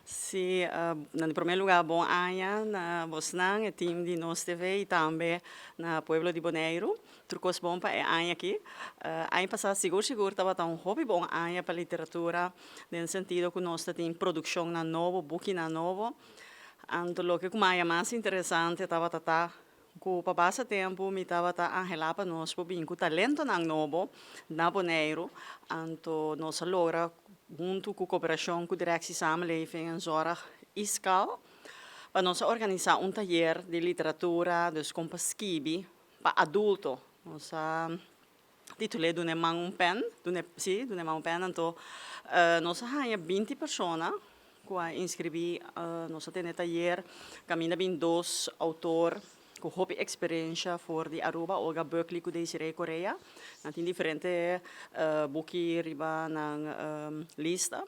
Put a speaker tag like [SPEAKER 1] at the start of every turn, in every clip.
[SPEAKER 1] Si nan di prome luga bon aña na bosnan e tim di nos TV y tambe na pueblo di Boneiru tur cos bon pa e aña aki aña pasa sigur sigur tabata un hopi bon aña pa literatura den sentido cu nos ta tin produccionnan nobo bukinan nobo anto loke cu maya mas interesante tabata ta Ku pa basta tempu mi tabata anhelá pa nos por bin ku talentonan nobo na Boneiru, anto nos a logra huntu ku koperashon ku Direksie Samenleving en Zorg, ISKAL, pa nos a organisá un tayer di literatura, dus kon pa skibi, pa adulto. Nos a. Titul'é Duna e man un pèn, duna e, sí, duna e man un pèn, anto nos a haña binti persona ku a inskribí, nos a tene tayer, kaminda bin dos outor ku hopi eksperensha for di Aruba, Olga Bökely ku Desirée Correa, nan tin diferente buki riba nan lista.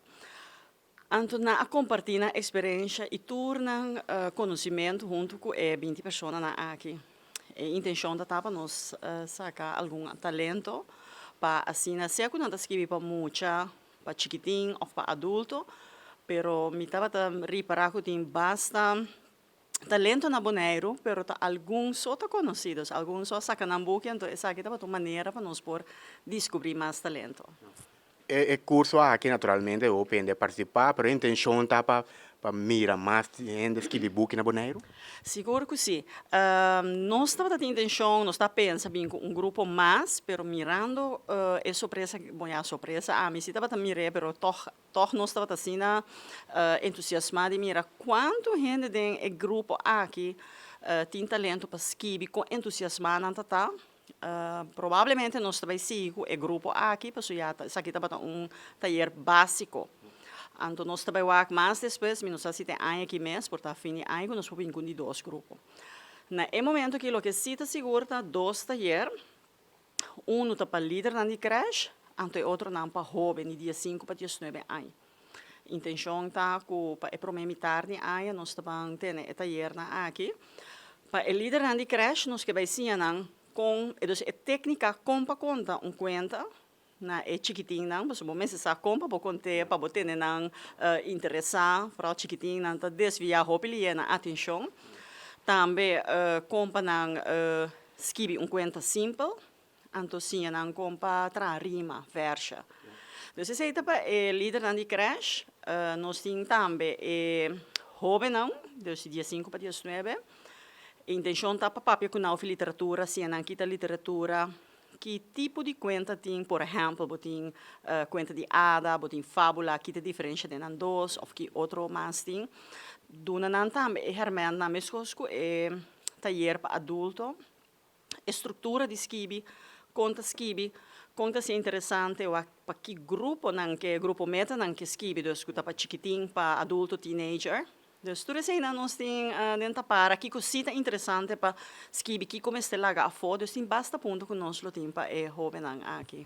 [SPEAKER 1] Anto nan a kompartí nan eksperensha i tur nan konosimentu huntu ku e binti personanan aki. E intenshon ta ta pa nos saka algun talento pa asina sea ku nan ta skibi pa mucha, pa chikitin òf pa adulto, pero mi tabata ripará ku tin basta. Talento na Boneiru, pero ta algun so ta conocidos, algun so a saca nan buki, enton esaki tabata un manera pa nos por discubri mas talento. E e
[SPEAKER 2] curso aki naturalmente hopi hende a participa, pero e intencion ta pa pa mira mas hende scribi buki na Boneiru? Sigur cu si.
[SPEAKER 1] Nos tabata tin intencion, nos ta pensa bin cu un grupo mas, pero mirando e sorpresa, bon ya sorpresa, ami si tabata mir'e, pero tog Tòg nos tabata asina entusiasmá di mira kuantu hende den e grupo aki tin talentu pa skibi, kon entusiasmá nan ta ta. Probablemente nos ta bai sigui ku e grupo aki pasobra ya ta esaki tabata un tayer básiko. Anto nos ta bai wak mas despues, mi no sa si ta e aña aki mes por ta fin di aña ku nos por bin kun di dos grupo. Na e momentu aki loke si ta sigur ta dos tayer. Unu ta pa lidernan di cresh, anto e otronan pa hoben di dies sinku pa dies nuebe aña. E intencion ta cu pa e prome mitar di aña nos ta ban tene e tayernan aki. Pa e lidernan di cresh nos ke bai siña nan con, dus e tecnica con pa conta un cuenta na e chikitinnan, pasobra bo mester sa con pa bo conte pa bo tene nan interesa, foral chikitinnan ta desvia hopi lie nan atencion. Tambe con pa nan Skibi un kuenta simpel, anto siña nan kon pa traha rima, vèrsha. Entonces esei ta pa e lidernan di krèsh. Nos tin tambe e hóbennan, dus di diesinku pa diesnuebe. E intenshon ta pa papia ku nan over literatura, siña nan kita literatura, ki tipo di kuenta tin, por ehèmpel bo tin kuenta di ada, bo tin fábula, ki ta diferensha den nan dos òf ki otro mas tin. Duna nan tambe e hèrmèntnan meskos ku e. Tayer pa adulto, E struktura di skibi, kon ta skibi, kon ta ser interesante, wak pa ki gruponan ke grupo metanan ke skibi, dus ku ta pa chikitin, pa adulto, teenager. Dus tur eseinan nos tin den Tapara, kiko si ta interesante pa skibi, kiko mester laga afó, dus tin basta punto ku nos lo tin pa e hóbennan aki.